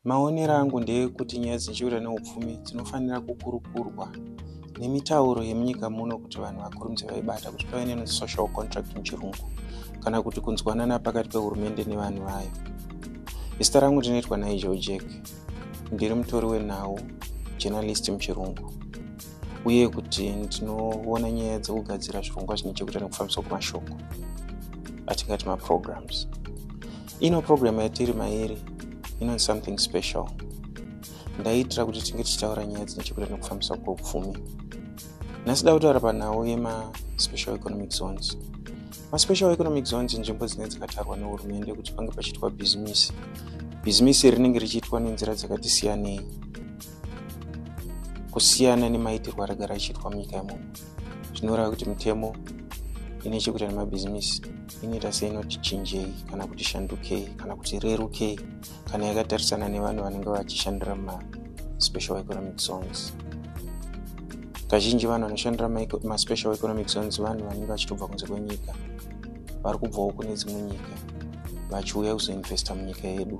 Maonero angu ndeekuti nyaya dzinochekuita neupfumi dzinofanira kukurukurwa nemitauro yemunyika muno kuti vanhu vakurumidze vaibata kuti pave nenosocial contract muchirungu kana kuti kunzwanana pakati pehurumende nevanhu vayo zita rangu ndinoitwa nigel jack ndiri mutori wenhau journalist muchirungu uye kuti ndinoona nyaya dzekugadzira zvirongwa zvine chekuita nekufambiswa kwemashoko atingati maprograms ino program yatiri mairi inonzi something special ndaiitira kuti tinge tichitaura nyaya dzine chekuita nekufambiswa kweupfumi nhasi da kutaura panhau yemaspecial economic zones maspecial economic zones inzvimbo dzine dzakatarwa nehurumende kuti pange pachiitwa bhizimisi bhizimisi rinenge richiitwa nenzira dzakati siyanei kusiyana nemaitirwo aragara achiitwa munyika yemuno zvinoreva kuti mitemo ine chekuita nemabhizimisi inoita seinoti chinjei kana kuti shandukei kana kuti rerukei kana yakatarisana nevanhu vanenge vachishandira maspecial economic zones kazhinji vanhu vanoshandira maspecial economic zones vanhu vanenge vachitobva kunze kwenyika vari kubvawo kune dzimwe nyika vachiuya kuzoinvesta munyika yedu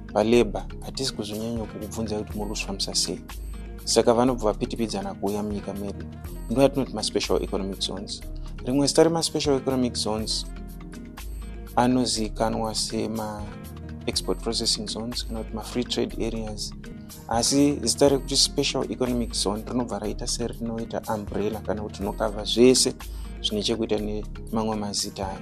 palabor hatisi kuzonyanya kukubvunza kuti muri kuzvifambisa sei saka vanobva vapitipidzana kuuya munyika medu ndo yatinoti maspecial economic zones rimwe zita remaspecial economic zones anozivikanwa sema export processing zones kana kuti mafree trade areas asi zita rekuti special economic zone rinobva raita serinoita umbrella kana kuti rinokavha zvese zvine chekuita nemamwe mazita ayo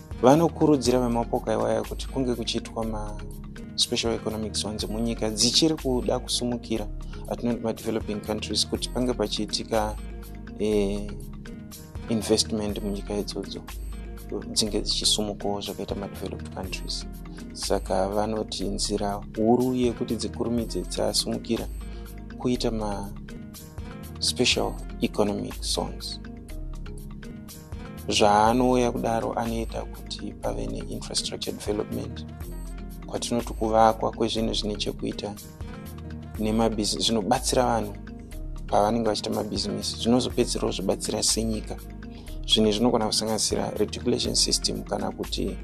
vanokurudzira vemapoka iwaya kuti kunge kuchiitwa maspecial economic zones munyika dzichiri kuda kusumukira atinoti madeveloping countries kuti pange pachiitika eh, investment munyika idzodzo dzinge dzichisumukawo zvakaita madeveloped countries saka vanoti nzira huru yekuti dzikurumidze dzasumukira kuita maspecial economic zones zvaanouya kudaro anoita kuti pave neinfrastructure development kwatinoti kuvakwa kwezvinhu zvine chekuita nemabhizi zvinobatsira vanhu pavanenge vachiita mabhizimisi zvinozopedzisirawo zvibatsira senyika zvinhu zvinogona kusanganisira reticulation system kana kuti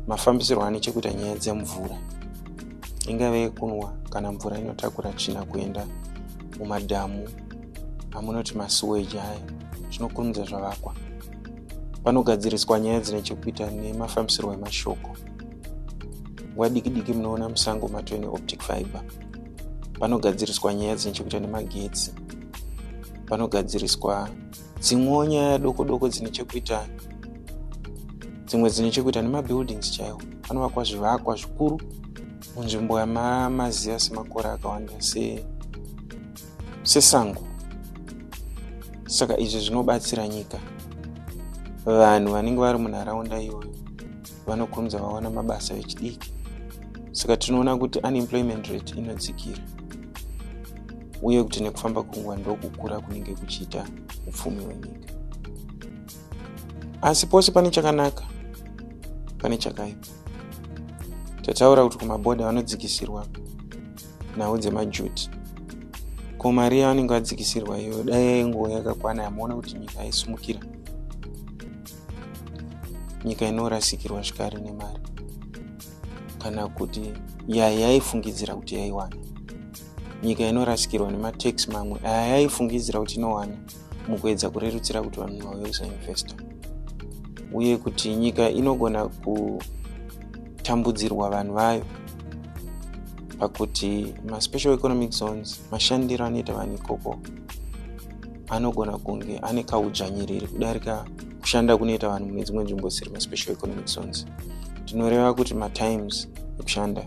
mafambisirwo ane chekuita nyaya dzemvura ingave yekunwa kana mvura inotakura tsvina kuenda mumadhamu amunoti masuweji aya zvinokurumidza zvavakwa panogadziriswa nyaya dzine chekuita nemafambisirwo emashoko nguva diki diki munoona musango matwe neoptic fiber panogadziriswa nyaya dzine chekuita nemagetsi panogadziriswa dzimwewo nyaya doko doko dzine chekuita dzimwe dzine chekuita nemabuildings chaiwo panovakwa zvivakwa zvikuru munzvimbo yamamaziva semakore akawanda se sesango saka izvi zvinobatsira nyika vanhu vanenge vari munharaunda iyoyo vanokonza vawana mabasa vechidiki saka tinoona kuti unemployment rate inodzikira uye kuti nekufamba kwenguva ndokukura kunenge kuchiita upfumi hwenyika asi pose pane chakanaka pane chakaipa tataura kuti kumabhodha vanodzikisirwa nhau dzemajuti ko mari yavanenge vadzikisirwa iyoyo dai yainguva yakakwana yamaona kuti nyika yaisumukira nyika inorasikirwa zvikari nemari kana kuti yaya yaifungidzira kuti yaiwana nyika inorasikirwa nematax mamwe aya yaifungidzira kuti inowana mukuedza kurerutsira kuti vanhu vauye kusainvesta uye kuti nyika inogona kutambudzirwa vanhu vayo pakuti maspecial economic zones mashandiro anoita vanhu ikoko anogona kunge ane kaudzvanyiriri kudarika kushanda kunoita vanhu mune dzimwe nzvimbo dzisiri maspecial economic zones tinoreva kuti matimes ekushanda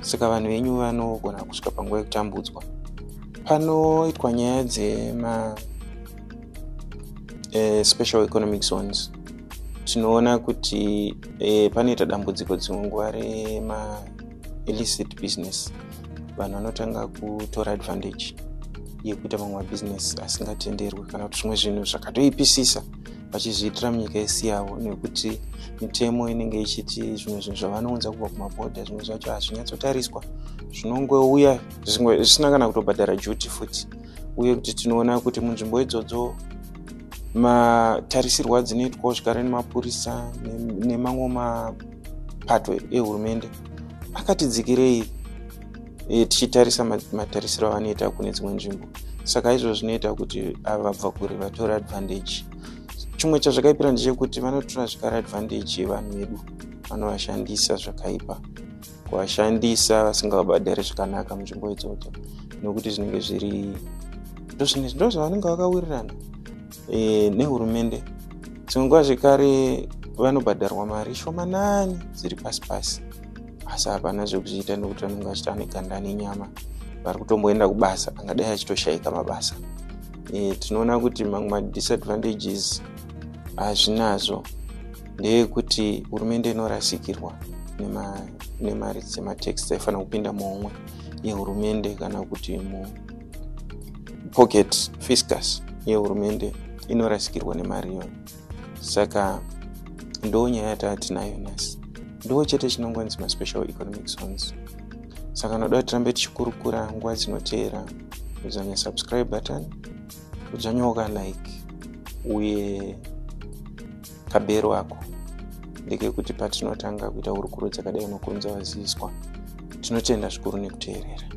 saka vanhu venyu vanogona kusvika panguva yekutambudzwa panoitwa nyaya dzema eh, special economic zones tinoona kuti eh, panoita dambudziko dzimwe nguva rema illicit business vanhu vanotanga kutora advantage yekuita mamwe mabusiness asingatenderwe kana kuti zvimwe zvinhu zvakatoipisisa vachizviitira munyika isi yavo nekuti mitemo inenge ichiti zvimwe zvinhu zvavanounza kubva kumabhodha zvimwe zvacho hazvinyatsotariswa zvinongouya zvisina kana kutobhadhara juti futi uye kuti tinoona kuti munzvimbo idzodzo matarisirwo adzinoitwawo zvigare nemapurisa nemamwe mapato ehurumende akati dzikirei e, tichitarisa matarisiro avanoita kune dzimwe nzvimbo saka izvo zvinoita kuti ava vabva kure vatora advantage chimwe chazvakaipira ndechekuti vanotora zvikara advantage yevanhu vedu vanovashandisa zvakaipa kuvashandisa vasingavabhadhari zvakanaka munzvimbo idzodzo nokuti zvinenge zviri ndozvinenge ndo zvavanenge vakawirirana e, nehurumende dzimwe nguva zvekare vanobhadharwa mari shomanani dziri pasi pasi asi hapana zvekuzviita nekuti vanenge vachita neganda nenyama vari kutomboenda kubasa angadai achitoshaika mabasa e, tinoona kuti mamwe madisadvantages hazvinazvo ndeyekuti hurumende inorasikirwa nemari dzematax dzaifanira kupinda muhomwe yehurumende kana kuti pocket fiscus yehurumende inorasikirwa nemari iyoyo saka ndo nyaya yataatinayo nhasi ndo chete chinongonzi maspecial economic zones saka noda kuti tirambe tichikurukura nguva dzinoteera kudzvanya subscribe button kudzvanyoka like uye kabero ako ndekekuti patinotanga kuita hurukuro dzakadai unokurunza vaziviswa tinotenda zvikuru nekuteerera